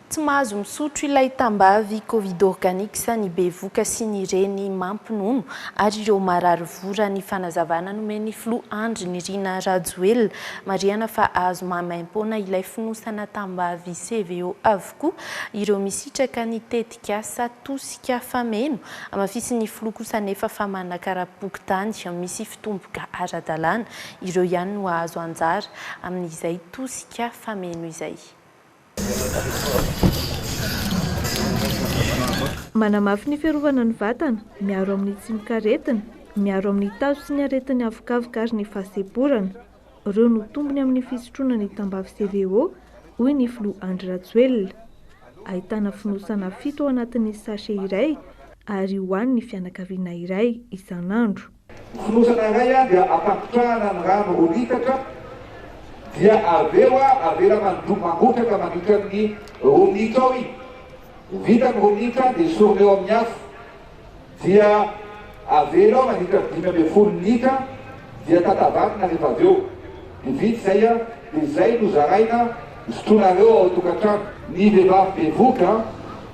Tsy mahazo misotro ilay tambavy covid organics ny bevoka sy ny reny mampinono ary ireo marary voa raha ny fanazavana nomen'ny filoha Andry Nirina Rajoelina. Marihana fa azo maimaimpoana ilay fonosana tambavy CVO avokoa ireo misitraka ny tetikasa Tosika Fameno. Hamafisin'ny filoha kosa anefa fa manakara-pokontany misy mpitombika ara-dalàna, ireo ihany no hahazo anjara amin'izay tosika fameno izay. Manamafy ny fiarovana ny vatana, miaro amin'ny tsimok'aretina, miaro amin'ny tazo sy ny aretin'ny havokavoka ary ny fahasemporana. Ireo no tombony amin'ny fisotroana ny tambavy CVO, hoy ny filoha Andry Rajoelina. Ahitana fonosana fito ao anatin'ny sachet iray ary hohanin'ny fianakaviana iray isan'andro. Fonosana iray a dia ampangotrahana ny rano roa litatra dia avy eo a avela mandro mangotraka mandritra ny roa minitra eo i vita ny roa minitra dia esorina eo amin'ny afo dia avela eo mandritra ny dimy ambin'ny folo minitra dia tatavanina rehefa avy eo dia vita izay a dia izay no zaraina sotroinareo ao an-tokantrano ny vehivavy bevohoka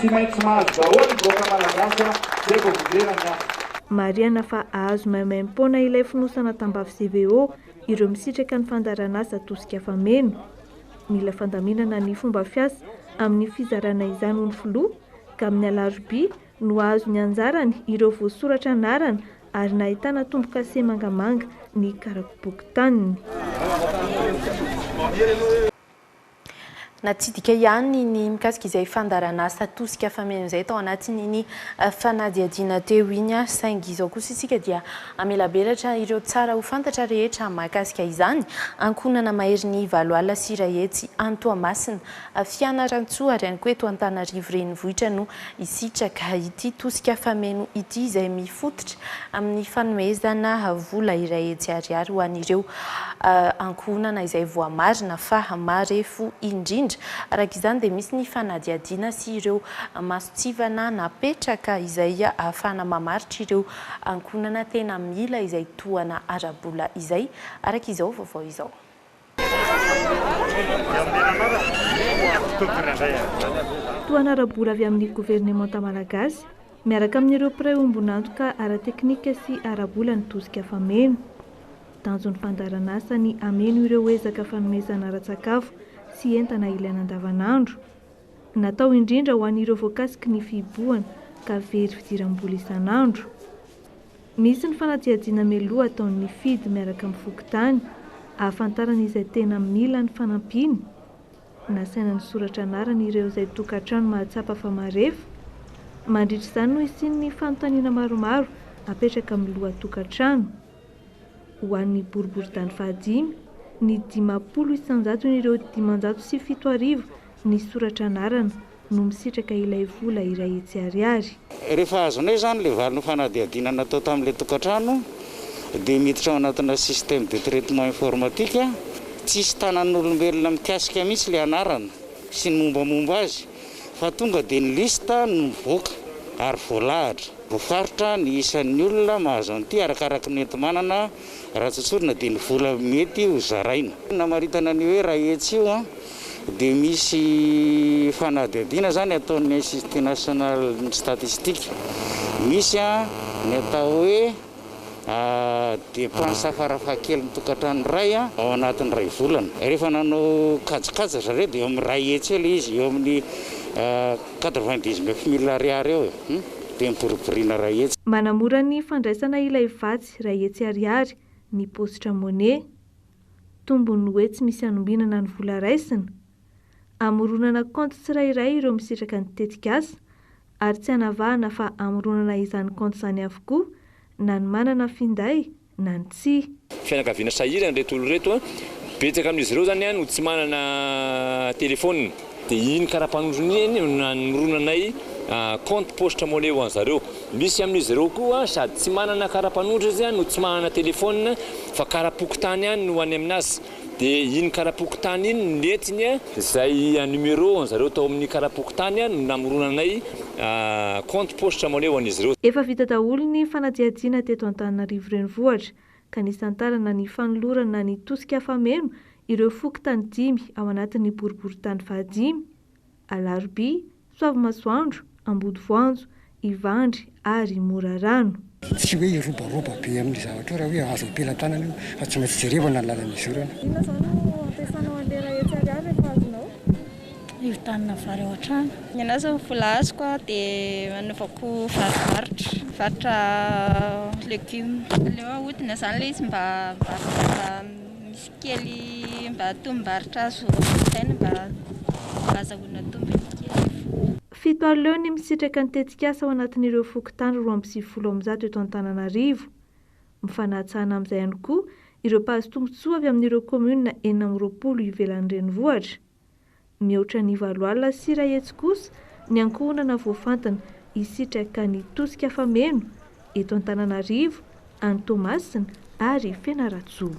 Tsy maintsy mahazo daholo ny vahoaka malagasy a! Zay vao ho lera ny asa. Marihana fa hahazo maimaimpoana ilay fonosana tambavy CVO ireo misitraka ny fandaharanasa tosika fameno. Mila fandaminana ny fomba fiasa amin'ny fizarana izany hoy ny filoha, ka amin'ny alarobia no hahazo ny anjarany ireo voasoratra anarana ary nahitana tombo-kase mangamanga ny karapopoky taniny. Natsidika ihany ny mikasika izay fandaharanasa tosika fameno izay tao anatin'iny fanadihadiana teo iny, saingy izao kosa isika dia hamelabelatra ireo tsara ho fantatra rehetra mahakasika izany, ankohonana mahery ny valo alina sy iray hetsy any Toamasina, Fianarantsoa ary ihany koa eto Antananarivo renivohitra no hisitraka ity tosika fameno ity izay mifototra amin'ny fanomezana vola iray hetsy ariary ho an'ireo ankohonana izay voamarina fa marefo indrindra. Araka izany dia misy ny fanadihadiana sy ireo masontsivana napetraka izay ahafahana mamaritra ireo ankohonana tena mila izay tohana ara-bola izay, araka izao vaovao izao. Tohana ara-bola avy amin'ny governemanta malagasy miaraka amin'ireo mpiray ombon'antoka ara-teknika sy ara-bola ny tosika fameno. Tanjon'ny fandaharan'asa ny hameno ireo ezaka fanomezana ara-tsakafo sy entana ilaina andavanandro. Natao indrindra ho an'ireo voakasiky ny fihibohana ka very fidiram-bola isan'andro. Misy ny fanadihadiana mialoha ataon'ny FIDH miaraka amin'ny fokontany ahafantarana izay tena mila ny fanampiana. Nasaina nisoratra anarana ireo izay tokantrano mahatsapa fa marefo. Mandritra izany no hisian'ny fanontaniana maromaro apetraka amin'ny lohatokantrano. Ho an'ny boriboritany fahadimy, ny dimampolo isanjaton'ireo dimanjato sy fito arivo nisoratra anarana no misitraka ilay vola iray hetsy ariary. Rehefa azonay izany ilay valin'ny fanadihadiana natao tamin'ilay tokantrano dia miditra ao anatina système de traitement informatique, tsisy tanan'olombelona mikasika mihitsy ilay anarana sy ny mombamomba azy. Fa tonga dia ny liste no mivoaka ary voalahatra. Voafaritra ny isan'ny olona mahazo an'ity arakaraky ny enti-manana raha tsotsorina dia ny vola mety ho zaraina. Namaritana an'io hoe Raetsy io dia misy fanadihadiana izany ataon'ny Institut National Statistique. Misy ny atao hoe. depenses farafahakeliny tokantrano iray ao anatin'ny iray volana. Rehefa nanao kajikajy ry zareo dia eo amin'ny iray hetsy eo ilay izy, eo amin'ny quatre-vingt-dix neuf mille ariary eo e! dia miboriboriana iray hetsy. Manamora ny fandraisana ilay vatsy iray hetsy ariary ny paositra Money. Tombony hoe tsy misy anombinana ny vola raisina. Amoronana kaonty tsirairay ireo misitraka ny tetikasa, ary tsy anavahana fa amoronana izany kaonty izany avokoa na ny manana finday na ny tsia. Fianakaviana sahirana ireto olona ireto, betsaka amin'izy ireo izany no tsy manana telefaonina dia iny kara-panondrona iny no namoronanay kaonty poste money ho an'zareo. Misy amin'izy ireo koa sady tsy manana kara-panondro izy no tsy manana telefaonina fa kara-pokontany ihany no any amin'azy. De iny karapokontany iny no nentiny a. Zay numéro an zareo tao amin'ny karapokontany a no namoronanay compte paositra money ho an'izy ireo. Efa vita daholo ny fanadihadiana teto Antananarivo Renivohitra ka nisantarana ny fanolorana ny tosika afa-meno ireo fokontany dimy ao anatin'ny boriborintany fahadimy, Alarobia, Soavimasoandro, Ambodivoanjo, Ivandry ary Morarano. Tsy hoe hiroboroba be amin'ny zavatra eo raha hoe azo am-pelatanana io fa tsy maintsy jerevana ny lalan'ny izorana. Inona izao no ampiasanao an'ilay raha etsy Ariary rehefa azonao? Hividianana vary ao an-trano. Ny anà izao ny vola azoko a dia anaovako vary varotra, mivarotra legioma. Aleo ahodina izany ilay izy mba mba misy. Kely mba tombom-barotra azo ampiasaina mba azahoana tombony kely. Fito ary leo ny misitraka ny tetikasa ao anatin'ireo fokontany roa amby sivifolo amby zato eto Antananarivo. Mifanatsahana amin'izay ihany koa ireo mpahazo tombontsoa avy amin'ireo kaominina enina amby roapolo ivelan'ny renivohitra. Mihoatra ny valo alina sy iray hetsy kosa ny ankohonana voafantina hisitraka ny tosika fameno eto Antananarivo, any Toamasina ary Fianarantsoa.